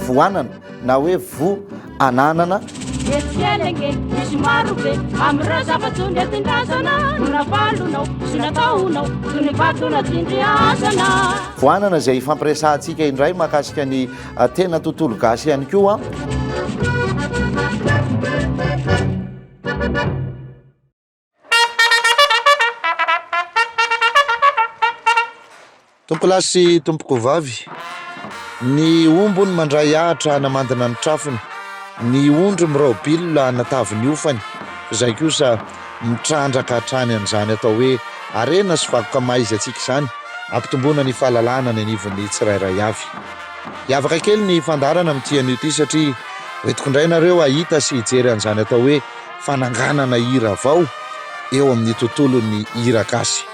Voanana na hoe vo ananana. Eto fiaina ange misy maro be amin'ireo zava-tsoa nentin-drazana no navalonao sy nataonao toy ny vato natindriazana. Voanana izay hifampiresahantsika indray mahakasika ny ah, tena tontolo gasy ihany koa. Tompolahy sy tompokovavy, ny omby hono mandray ahitra hanamandina ny trafony, ny ondry miraobilona hanatavy ny hofany, izay kosa mitrandraka hatrany an'izany atao hoe harena sy vakoka mahaizy-antsika izany, hampitomboana ny fahalalahana ny anivon'ny tsirairay avy. Hiavaka kely ny fandaharana amin'ity anio ity satria hoentiko indray ianareo hahita sy hijery an'izany atao hoe. fananganana hira vao eo amin'ny tontolon'ny hira gasy.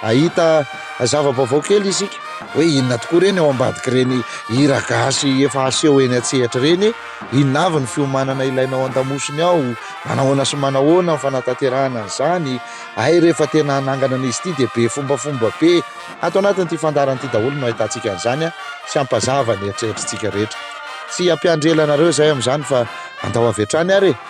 Ahita zava-baovao kely isika hoe inona tokoa ireny ao ambadik'ireny hira gasy efa aseho eny an-tsehatra ireny, inona avy ny fiomanana ilainao an-damosiny ao, manahoana sy manahoana ny fanatanterahana an'izany, hay rehefa tena hanangana an'izy ity dia be fombafomba be. Ato anatin'ity fandaharana ity daholo no ahitantsika an'izany sy hampazava ny eritreritritsika rehetra. Tsy hampiandry ela anareo izahay amin'izany fa andao avy hatrany ary e!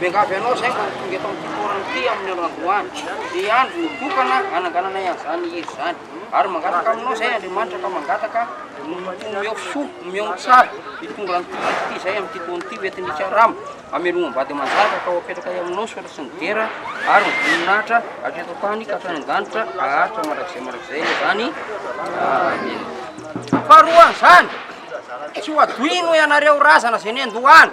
Miangavy anao izay mba ho tonga eto amin'ity toerana ity amin'ny andro androany, dia andro nitokana hanangananay an'izany hira izany. Ary mangataka aminao izay Andriamanitra ka mangataka ny omeo soa, omeo ny tsara, hitondra an'ity hira ity izay amin'ity taona ity ho entin'ny Ikarama hamelomam-bady aman-janaka ka ho apetrakay aminao soatra sy ny dera ary ny voninahitra avy eto an-tany ka hatrany an-danitra haharitra mandrakizay mandrakizay anie izany. Amena. Faharoan'izany, tsy ho adoino ianareo razana izay nendohana.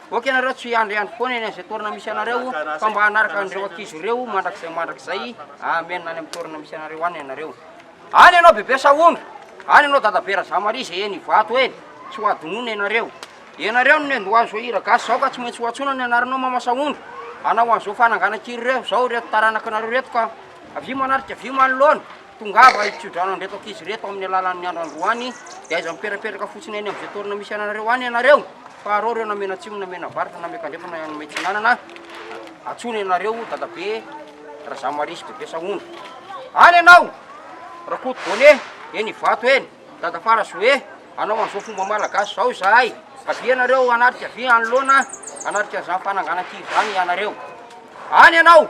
Ok nareo tsy hiandry andry foana eny izay toerana misy anareo fa mba hanaraka an'ireo ankizy ireo mandrakizay mandrakizay amen any amin'ny toerana misy anareo any ianareo any ianao bebe sahondra any ianao dada be razamaria izay eny ivato eny tsy ho adinoina ianareo ianareo no nendoha an'izao hira gasy izao ka tsy maintsy ho antsoina ny anaranao mama sahondra hanao an'izao fananganan-kiry ireo izao ireto taranaka anareo ireto ka avia manarika avia manoloana Tongava ry tsodrano handreto ankizy reto amin'ny alalan'ny andro androany dia aiza miperaperaka fotsiny any amin'izay toerana misy anareo any ianareo fa arao ireo na menatsimo na menavaratra na miakandrefana na metsinanana atsony ianareo dadabe razamarisy bebe sahondra any ianao rakoto bone eny ivato eny dadafara zoe anao an'izao fomba malagasy zao izahay avy ianareo anatrika vy anoloana anatrika an'izany fananganan-kiry izany ianareo any ianao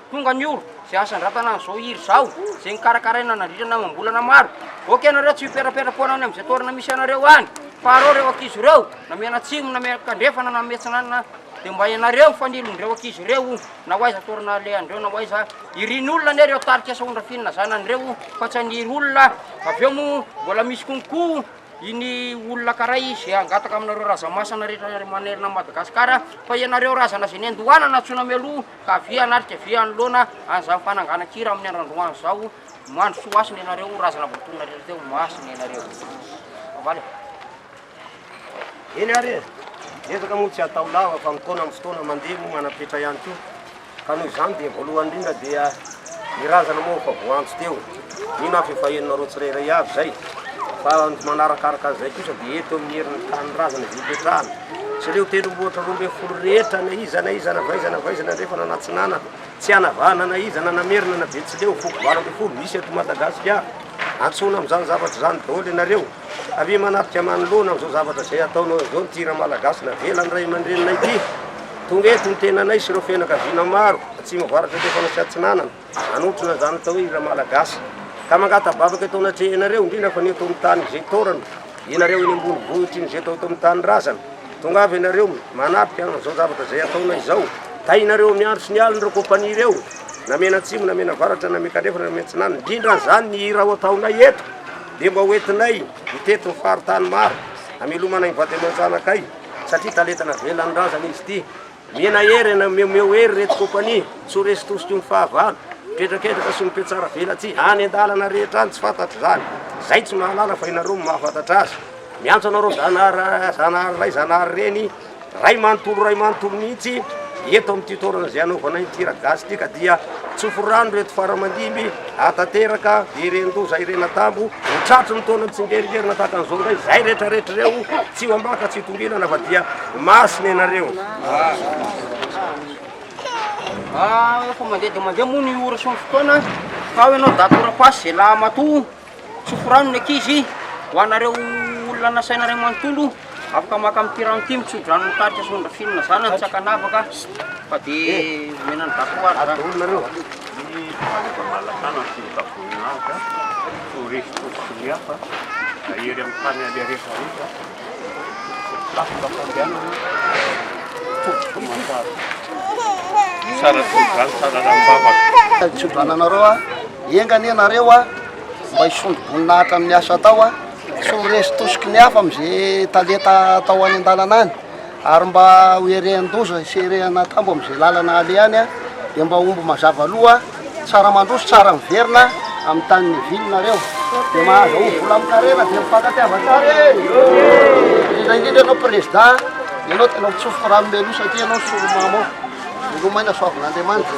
Tonga ny ora zay asandratana an'izao hira izao, zay nokarakaraina nandritra ny amam-bolana maro. Aoka ianareo tsy hipetrapetra foana any amin'izay toerana misy anareo any, fa arao ireo ankizy ireo, na mianatsimo, na mianakandrefana, na miatsinanana, dia mba ianareo ny fanilin'ireo ankizy ireo o, na ho aiza toerana alehan'ireo, na ho aiza. Hirin'olona anie ireo tarika sahondra finina zanany ireo o, fa tsy haniry olona, avy eo moa mbola misy konko iny olona karay izay hangataka aminareo razamasana rehetra manerana an'i Madagasikara, fa ianareo razana izay niandohana nantsoina mialoha, Ka avia an'aty ka avia anoloana an'izany fananganan-kira amin'ny androandroany izao, mandrosoa hasina ianareo, razana voatonona rery teo, masina ianareo. Avaly ô. Eny ary e! Ezaka moa tsy hatao lava fa mitaona amin'ny fotoana mandeha moa manam-petra ihany koa. Ka noho izany dia voalohany indrindra dia ny razana moa efa voaantso teo. Mino aho fa efa henonareo tsirairay avy izay, fa ny manarakaraka an'izay kosa dia eto amin'ny herin'ny tanindrazana izay hipetrahana. Tsy ireo tendrombohitra roa ambin'ny folo rehetra na iza na iza na vaiza na vaiza na andrefana na atsinanana, tsy hanavahana na iza na namerina na betsileo, foko valo ambin'ny folo misy eto Madagasikara. Antsoina amin'izany zavatra izany daholo ianareo. Avia manafika manoloana amin'izao zavatra izay ataonao izao ity Ramalagasy navelan'ny ray aman-dreninay ity. Tonga eto ny tenanay sy ireo fianakaviana maro, atsimo avaratra andrefana sy atsinanana. Hanotrona izany atao hoe hira malagasy. Ka mangatabavaka eto anatrehanareo, indrindra fa ny eto amin'ny tany izay taorana, ianareo eny ambony vohitra iny izay atao eto amin'ny tanindrazana. Tongava ianareo manatrika an'izao zavatra izay ataonay izao. Tahinareo amin'ny andro sy ny alina ireo kompania ireo, na mianatsimo, na mianavaratra, na miankandrefana, na miantsinanana. Indrindra an'izany ny hira ho ataonay eto, dia mba hoentinay mitety ny faritany maro, hamelomana ny vady aman-janakay, satria talenta navelan'ny razana izy ity. Mihena hery na mihomeho hery ireto kompania tsy ho resy tosika io ny fahavalo, miketraketraka sy mipetraha velatsihy any an-dalana rehetra any tsy fantatra izany. Izay tsy mahalala fa ianareo no mahafantatra azy. Miantso anareo Zanahary Zanahary Ray Zanahary Reny Ray manontolo Ray manontolo mihitsy eto amin'ity toerana izay hanaovana ity Ragasy ity ka dia tsofy rano ireto faramandimby Hahatanteraka ireny loza ireny an-tambo ho tratry ny taona mitsingerin-gerona tahaka an'izao indray izay rehetrarehetra ireo. Tsy ho ambaka, tsy ho tongilana fa dia masina ianareo. Ah, efa mandeha dia mandeha moa ny ora sy ny fotoana. Fa ao ianao daty ora-pasy, zay lahy matoa. Tsofy rano ny ankizy, ho anareo olona nasaina iray manontolo, afaka maka amin'ity rano ity, mitsodrano ny tatitra sy nondrafino ny zanany tsy ankanavaka fa dia omena an'i Dato azy zany. Adolo nareo a! Ny fanjakan'Alasana no fomba tavoninahitra, toa resy fotsiny hafa, ahery amin'ny tany aleha rehetra rehetra. Afaka fandehanana potika mazava. Tsara tsodrano, tsara rambavaka. Tsodrano anareo a. Enga anie nareo a, mba hisondro boninahitra amin'ny asa atao a. Tsy ho resy tosiky ny hafa amin'izay talenta atao any an-dalana any. Ary mba ho erehan-doza sy erehan'atambo amin'izay lalana alehany dia mba omby mazava loha, tsara mandroso, tsara miverina amin'ny tany nivininareo. Dia mahazo aho vola amin'ny karena dia mifankatia vatary e! Indrindra indrindra ianao Prezda, ianao tena mitsofoka rano mialoha satria ianao ny solo-mamo ao. Veloma aina soavin'Andriamanitra.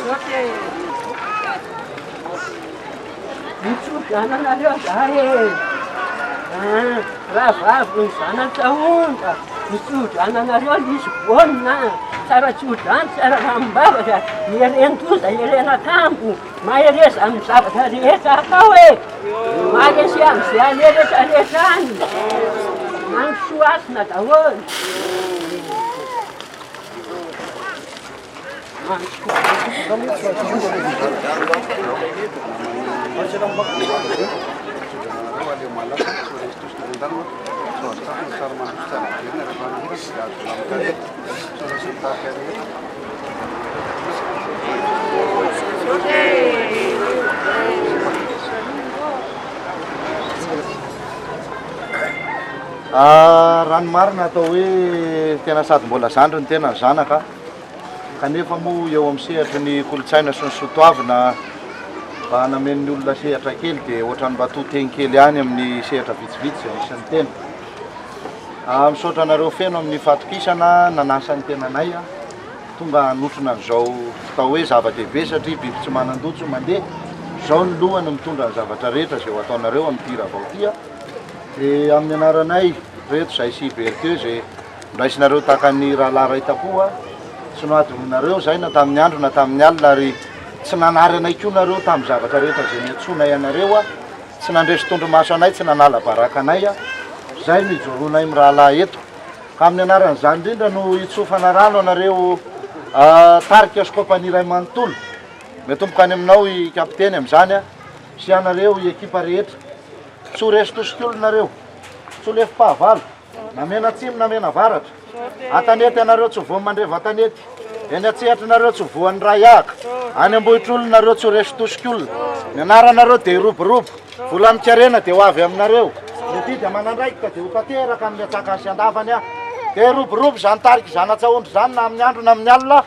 Mitsodrano anareo zahay e! An! Rahavavy ny zanaka onja! Mitsodrano anareo Lisbonne an! Tsara tsodrano, tsara lanim-bavaka, ieren-doza, ieren-akanjo, mahereza amin'ny zavatra rehetra atao e! Maharesy amin'izay aleha rehetra rehetra any! Mandrosoa hasina daholo! Raha ny marina atao hoe tena sady mbola zandry ny tena ny zanaka an! kanefa moa eo amin'ny sehatry ny kolontsaina sy ny soatoavina mba hanamen'ny olona sehatra kely dia ohatran'ny mba to tegny kely ihany amin'ny sehatra vitsivitsy izay misy ny tena. Ah, misaotra anareo feno amin'ny fahatokisana nanasa ny tenanay ah, tonga hanotrona an'izao atao hoe zava-dehibe satria biby tsy manan-dojo mandeha, izao ny lohany mitondra ny zavatra rehetra izay ho ataonareo amin'ity rahavao ity ah. Dia amin'ny anaranay reto Zaisy Berthieu izay. Raisinareo tahaka ny rahalahy iray takoa tsy nohadinoinareo izahay na tamin'ny andro na tamin'ny alina, ary tsy nanary anay koa nareo tamin'ny zavatra rehetra izay niantsoanay anareo. Tsy nandresy tondromaso anay, tsy nanala baraka anay. Izay no ijoroanay mirahalahy eto. Amin'ny anaran'izany indrindra no hitsofana rano anareo tarika sy kaompania iray manontolo. Miatomboka any aminao i Kapiteny amin'izany sy ianareo i ekipa rehetra. Tsy ho resin-tosiky olona nareo. Tsy ho lefim-pahavalo. Na mianatsimo na mianavaratra, an-tanety ianareo tsy ho voan'ny mandreva an-tanety, eny an-tsehatry nareo tsy ho voan'ny raiahaka, any am-bohitr'olona nareo tsy ho resin-tosik'olona, ny anaranareo dia hiroborobo, volan-karena dia ho avy aminareo, ny adidy aman'andraikitra dia ho tanteraka amin'ny antsakany sy andavany, dia hiroborobo izany tarika izany an-tsahondry izany na amin'ny andro na amin'ny alina.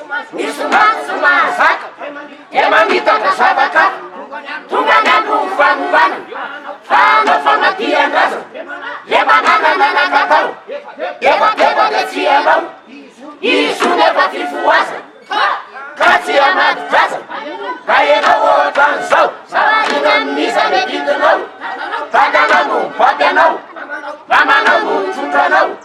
Misongadina no mahazaka dia mamitaka zava-kato Tonga any aloha ny fanovana fa hanao famadihan-drazana Le mananana nakatao efa teba dia tsy hanao Izy io nefa fifohazana ka tsy hanadi-draza Ka ianao ohatran'izao Sarinan'iza ny adidinao Tatanao no mibaby anao Mamanao no mitondra anao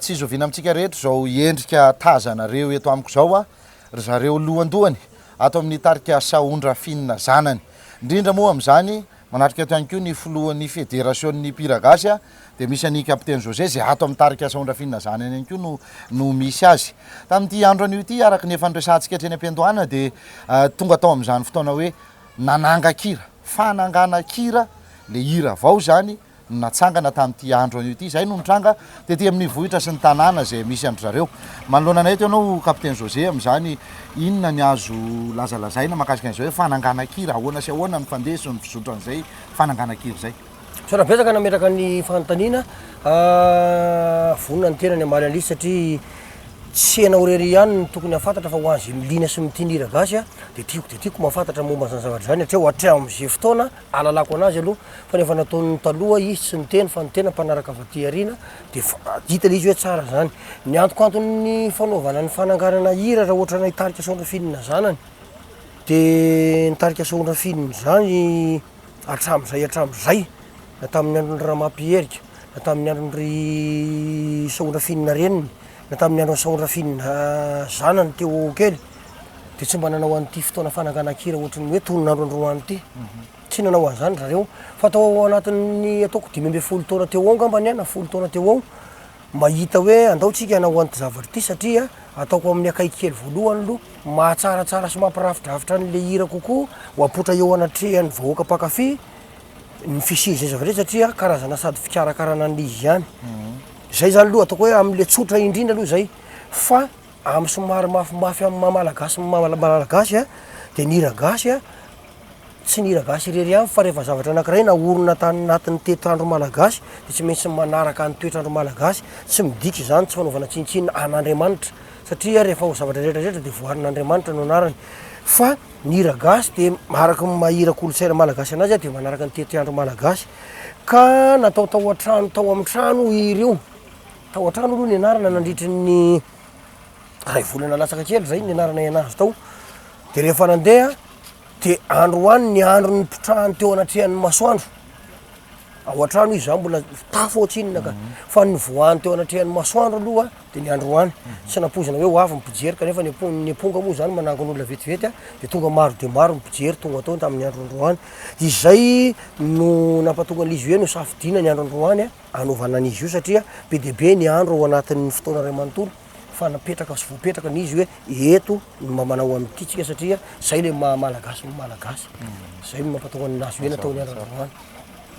Tsy zoviana amintsika rehetra izao endrika tazanareo eto amiko izao a, ry zareo lohandohany ato amin'ny tarika Sahon Rafinina zanany. Indrindra moa amin'izany, manatrika eto ihany koa ny filohan'ny federasion'ny mpihira gasy a, dia misy an'i Capitaine José izay ato amin'ny tarika Sahon Rafinina zanany ihany koa no no misy azy. Tamin'ity andro anio ity, araka ny efa niresahantsika hatreny am-piandohana dia tonga tao amin'izany fotoana hoe Nanangan-kira, fananganan-kira, ilay hira vao izany no natsangana tamin'ity andro anio ity. Izay no nitranga tety amin'ny vohitra sy ny tanàna izay misy an-dry zareo. Manoloana anay eto ianao Capitaine José amin'izany, inona ny azo lazalazaina mahakasika an'izay hoe fananganan-kira? Ahoana sy ahoana no fandeha sy ny fizotran'izay fananganan-kira izay? Misaotra betsaka nametraka ny fanontaniana. Vonona ny tenany hamaly an'ilay izy satria tsy ianao irery ihany no tokony hahafantatra fa ho an'izay miliana sy mitia ny hira gasy dia tiako dia tiako mahafantatra momba an'izany zavatra izany hatreo hatramin'izay fotoana ahalalako an'azy aloha fa ny efa nataon'ny taloha izy tsy niteny fa ny tena mpanaraka avy aty aoriana dia hita ilay izy hoe tsara izany. Ny antokanton'ny fanaovana ny fananganana hira raha ohatra anay tarika Soandrafinina zanany dia ny tarika Soandrafinina izany Hatramin'izay hatramin'izay, na tamin'ny andron'i Ramapierika, na tamin'ny andron'ry Sahondrafinina reniny, na tamin'ny andron'i Sahondrafinina zanany teo kely, dia tsy mba nanao an'ity fotoana fananganan-kira ohatrin'ny hoe tonon'andro androany ity. Mhm. Tsy nanao an'izany zareo. Fa tao anatin'ny ataoko dimy ambin'ny folo taona teo ao angambany na folo taona teo ao, Mahita hoe andao tsika hanao an'ity zavatra ity satria ataoko amin'ny akaiky kely voalohany aloha, mahatsaratsara sy mampirafidrafitra an'ilay hira kokoa ho apoitra eo anatrehan'ny vahoaka mpankafy ny fisian'izay zavatra izay satria karazana sady fikarakarana an'ilay izy ihany. Izay izany aloha ataoko hoe amin'ilay tsotra indrindra aloha izay fa amin'ny somary mafimafy amin'ny maha malagasy ny maha malagasy dia ny hira gasy Tsy ny hira gasy irery ihany fa rehefa zavatra anankiray naorina tany anatin'ny toetr'andro malagasy dia tsy maintsy manaraka ny toetr'andro malagasy. Tsy midika izany tsy fanaovana tsinontsinona an'Andriamanitra satria rehefa ho zavatra rehetra rehetra dia voarin'Andriamanitra no anarany fa ny hira gasy dia araka ny maha hira kolontsaina malagasy anazy dia manaraka ny toetr'andro malagasy ka natao tao an-trano tao amin'ny trano io hira io. Tao an-trano aloha ny anarana nandritry ny iray volana latsaka kely izay ny anarana nahay anazy tao dia rehefa nandeha dia androany ny andro nipitrahany teo anatrehan'ny masoandro ao an-trano izy za mbola tafo ao tsinona ka mhm. fa ny voany teo anatrehan'ny masoandro aloha dia ny androany mhm. tsy nampoizina hoe ho avy ny mpijery kanefa ny ny amponga moa zany manangon'olona vetivety a dia tonga maro dia maro ny mpijery tonga tao tamin'ny andro androany izay no nampatonga an'izy hoe no safidina ny andro androany a anaovana an'izy io satria be dia be ny andro ao anatin'ny fotoana iray manontolo fa napetraka sy voapetraka ny izy hoe eto no mba manao amin'ity tsika satria zay le maha malagasy ny malagasy mm. zay no mampataoka ny nazy hoe nataony andrana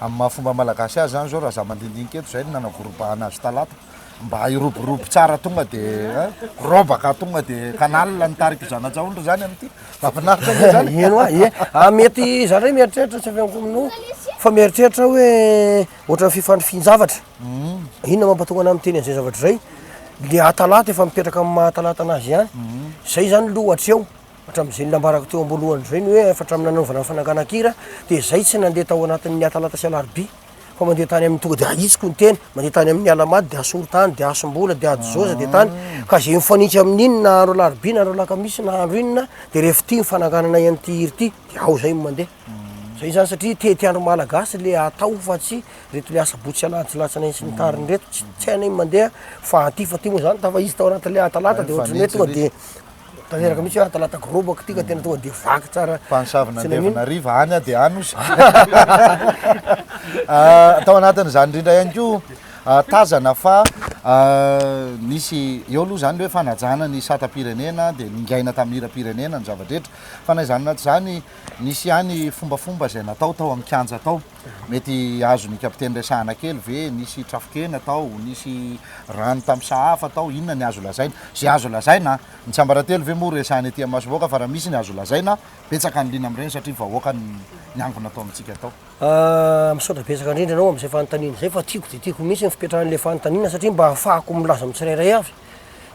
amin'ny maha fomba malagasy azy zany zao raha za mandindinika eto zay no nanavorom-bahana azy talata mba hiroborobo tsara tonga de eh, robaka tonga de canal ny tariko zanajaondry zany amity mafinaritra e zany eno a e a mety zany re mieritreritra tsy avy amiko mino fa mieritreritra hoe ohatrany fifandrifinjavatra Inona mampatonga anao miteny an'izay zavatra izay? Ilay hatalata efa mipetraka amin'ny maha-hatalata anazy ihany. Izay izany aloha hatreho, hatramin'izay nambarako teo am-boalohany izay ny hoe efa hatramin'ny nanaovana ny fanagan-kira dia izay tsy nandeha tao anatin'ny hatalata sy alarobia fa mandeha tany amin'ny tonga dia ahitsiko ny teny, mandeha tany amin'ny alamaty dia asorontany dia asom-bola dia adizoza dia tany ka izay mifanitsy amin'iny na andro alarobia na andro alakamisy na andro inona dia rehefa ity ny fananganana an'ity hira ity dia ao izay no mandeha. Izay izany satria tety andro malagasy ilay atao fa tsy reto le asabotsy alahady latsana iny sy ny tariny reto tsy tsy hainay mandeha fa aty fa ty moa zany tafa izy tao anaty le atalata de ohatran'ny hoe tonga de tanteraka mihitsy hoe atalata gorobaka ty ka tena tonga de vaky tsara mpanosavina Tsy nanino. andevanariva any a de any ozy Ah, tao anatin'izany indrindra ihany koa ah, tazana fa ah, nisy eo aloha izany le hoe fanajana ny satam-pirenena dia ningaina tamin'ny hiram-pirenena ny zava-drehetra fa na izany na tsy izany nisy ihany fombafomba izay natao tao amin'ny kianja tao Mety azon ny kapiteny resahana kely ve, nisy trafon-kena tao, nisy rano tamin'ny sahafa tao, inona ny azo lazaina? Izay azo lazaina an! Ny tsiambaratelo ve moa resahina ety amin'ny masom-bahoaka fa raha misy ny azo lazaina, betsaka ny liana amin'ireny satria vahoaka ny niangona tao amintsika tao. Ahh, misaotra betsaka indrindra anao amin'izay fanontaniana izay fa tiako dia tiako mihitsy ny fipetrahan'ilay fanontaniana satria mba ahafahako milaza amin'ny tsirairay avy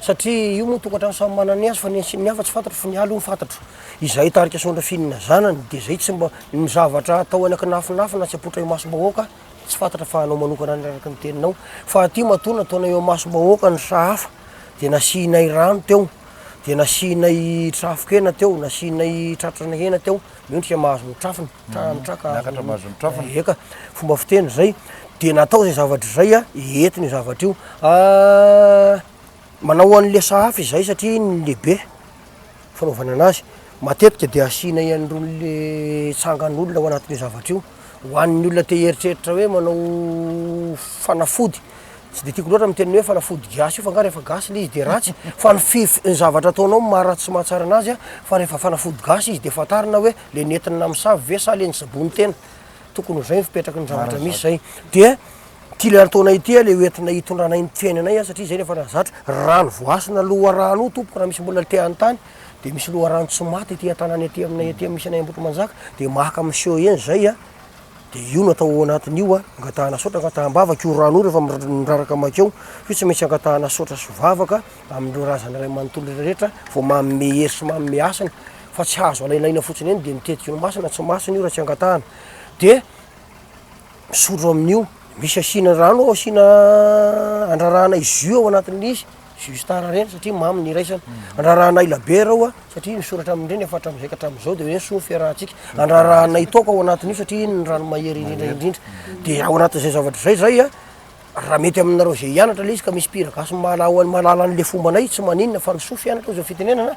satria io moa tokantrano samy manana ny azy fa ny antsy ny hafa tsy fantatro fa ny ahy aloha ny fantatro izay hitarika sondra fihinana zanany dia izay tsy mba ny zavatra atao any akinafinafy na tsy apoitra eo masom-bahoaka tsy fantatra fa anao manokana any araka ny teninao fa aty matoa nataonay eo masom-bahoaka ny sahafa dia nasianay rano teo dia nasianay trafo-kena teo nasianay tratrana hena teo Mendrika mahazo ny trafony, tra- ny traka. Miakatra mahazo ny trafony. Eka, fomba fiteny izay. Dia natao izay zavatra izay a, eto ny zavatra io. Ah, manao an'le sahafa izahay satria iny no lehibe, fanaovana anazy. Matetika dia asianay an'irony le tsangan'olona ao anatin'io zavatra io. Ho an'ny olona te hieritreritra hoe manao fanafody, tsy dia tiako loatra miteny ny hoe fanafody gasy io fa angaha rehefa gasy ilay izy dia ratsy fa ny fif, ny zavatra ataonao no maha-ratsy sy mahatsara anazy an, fa rehefa fanafody gasy izy dia fantarina hoe ilay nentina namosavy ve sa ilay nisaboany tena, tokony ho zay ny fipetrak'ny zavatra misy zay, dia ity ilay antoanay ity ilay hoentina hitondranay ny fiainanay an satria izay no efa zatra, rano voasana loharaha an'o tompoko raha misy mbola te hanontany. Dia misy loharano tsy maty ety an-tanany ety aminay ety amin'ny misy anay Ambohitrimanjaka, dia maka miseho eny izay a, dia io no atao ao anatin'io a, angatahana sotra, angataham-bavaka io rano io rehefa miraraka makeo, io tsy maintsy angatahana sotra sy vavaka amin'ireo razana iray manontolo rehetra vao manome hery sy manome hasina, fa tsy azo alainaina fotsiny eny dia ny tetiky ny masina tsy masina io raha tsy angatahana, dia misotro amin'io, misy asiana rano ao asiana andrarahana jus ao anatin'ilay izy. Juste ara reny satria mamy ny iraisana. Andrarahanay labiera aho satria nisoratra amin'ireny efa hatramin'izay ka hatramin'izao dia hoe ny soa ny fiarahantsika. Andrarahanay toaka ao anatin'io satria iny ny rano mahery indrindra indrindra. Dia ao anatin'izay zavatra izay izay a, raha mety aminareo izay hianatra ilay izy ka misy mpihira gasy mahalala mahalala an'ilay fombanay tsy maninona fa ny soa fianatra hoy izao fitenenana,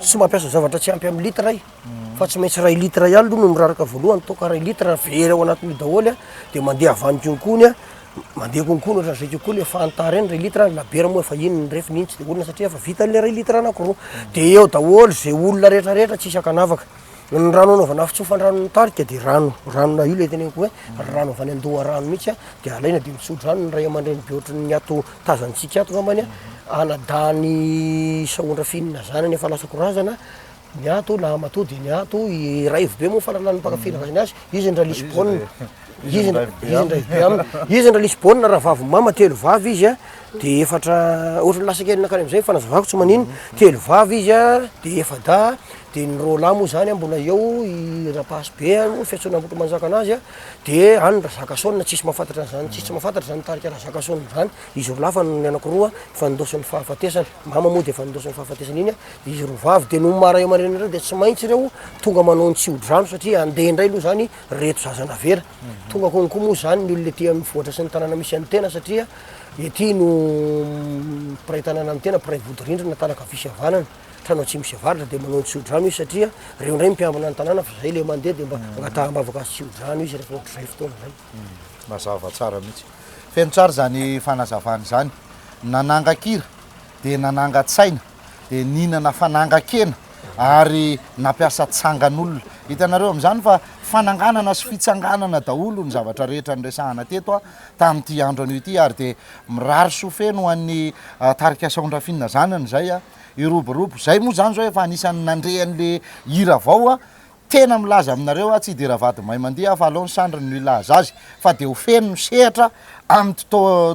tsy mampiasa zavatra tsy ampy amin'ny litre aho. fa tsy maintsy ray litre ihany aloha no miraraka voalohany toaka ray litre raha very ao anatin'io daholo a dia mandeha avany konkony a mandeha konkony ohatran'izay kokoa le fanta reny ray litre ny labiera moa efa iny ny refy ny iny tsy dia olona satria efa vita an'ilay ray litre anankiroa dia eo daholo izay olona rehetrarehetra tsy isan-kanavaka ny rano anaovana fitsofan-dranon'ny tarika dia rano ranona io ilay teneniko hoe rano avy any an-doharano mihitsy a dia alaina dia mitsodrano ny ray aman-dreny be ohatry ny ato tazantsika ato angambany a anadahany sahondra finina zanany efa lasako razana Ny ato na matoa dia ny ato i raivo be moa farany any mpaka fira rainy azy izy ndra lisbonne izy ndra izy ndra be aminy izy ndra lisbonne raha vavy mama telo vavy izy a dia efatra ohatra ny lasa kely nakany amizay ny fanazavako tsy manino telo vavy izy a dia efa-dahy dia ny roa lahy moa zany a mbola eo i rapasibe a moa fiantsoana ambotomanjaka anazy a dia any razakasona tsisy mahafantatra an'zany tsisy tsy mahafantatra zany tarika razakasona zany izy roa lahy fa ny anakiroa efa nindoson'ny fahafatesana mama moa dia efa nindoson'ny fahafatesana iny a Izy roa vavy dia nony maha ray aman-dreny an'ireo dia tsy maintsy ireo tonga manao ny tsy hodrano satria handeha indray aloha izany ireto zaza navela. Tonga konko moa izany ny olona ety am'vohitra sy ny tanàna misy an'ny tena satria ety no mpiray tanàna ny tena, mpiray vodirindrina, tanaka havia sy havanana, trano atsimo sy avaratra dia manao ny tsy hodrano izy satria ireo indray mpiambina ny tanàna fa izay ilay mandeha dia mba angataham-bavaka azy tsy hodrano izy rehefa ohatr'izay fotoana izay. Mazava tsara mihitsy. Feno tsara izany fanazavana izany. Nanangan-kira dia nanangan-tsaina. dia nihinana fanangan-kena ary nampiasa tsangan'olona. Hitanareo amin'izany fa fananganana sy fitsanganana daholo ny zavatra rehetra niresahana teto tamin'ity andro anio ity ary dia mirary soa feno ho an'ny ah, tarika Saondrafinina zanany izay iroborobo. Izay moa izany izao efa anisan'ny nandre an'ilay hira vao Tena milaza aminareo aho tsy hidera vady may mandihy aho fa aleo ny sandriny no hilaza azy fa dia ho feno ny sehatra amin'ity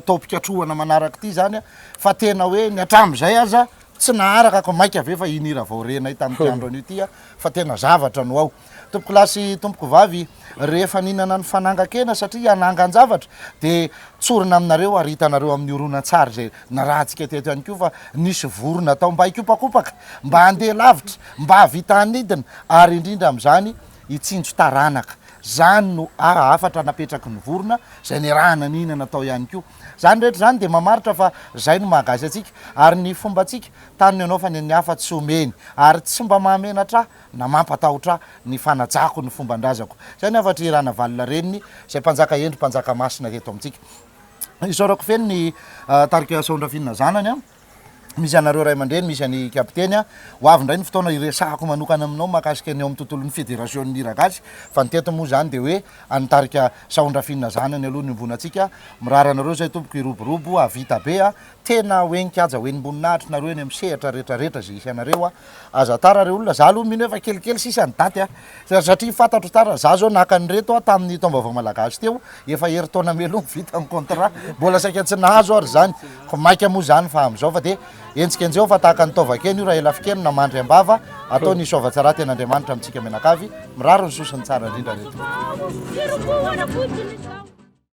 taom-pikatrohana manaraka ity izany fa tena hoe ny hatramin'izay aza tsy naharaka ka maika ve fa iny hira vao renay tamin'ity andro anio ity fa tena zavatra no ao tompoko lahy sy tompoko vavy rehefa nihinana ny fanangan-kena satria hanangan-javatra dia tsorina aminareo ary hitanareo amin'ny horonantsary izay Nirahantsika teto ihany koa fa nisy vorona atao mba hikopakopaka, mba handeha lavitra, mba hahavita hanidina ary indrindra amin'izany hitsinjo taranaka. Izany no hafatra napetraky ny vorona izay niarahana nihinana tao ihany koa. Izany rehetra izany dia mamaritra fa izay no maha gasy antsika ary ny fombantsika tany no hanaovany an'ny hafa tsy omeny ary tsy mba mahamenatra ahy na mampatahotra ahy ny fanajako ny fombandrazako. Izay ny hafatr'i Ranavalona Reniny izay mpanjaka hendry mpanjaka masina teto amintsika. Isaorako feno ny tarika Asaondrafinina zanany, misy anareo ray aman-dreny, misy an'i Kapiteny. Ho avy indray ny fotoana hiresahako manokana aminao mahakasika ny ao amin'ny tontolon'ny Federasion'ny hira gasy fa ny teto moa izany dia hoe an'ny tarika Asaondrafinina zanany aloha ny iombonantsika. Mirary anareo izay tompoko hiroborobo hahavita be a! tena hoe nikaja ho enim-boninahitry nareo eny amin'ny sehatra rehetra rehetra izay hisy anareo a! Aza tara re olona, za aloha mino hoe efa kelikely sisa ny daty a! Satria fantatro tara, za zao naka an'ireto a tamin'ny taom-baovao malagasy teo, efa herintaona meloha vita ny contrat, mbola saika tsy nahazo ary zany, ko maika moa zany fa amin'izao fa dia enjikenjeho fa tahaka ny taovan-kena io raha ela fikeno na mandry am-bava, atao ny soavan-tsara ten'Andriamanitra amintsika mianakavy, mirary ny soa sy ny tsara indrindra re tompoko.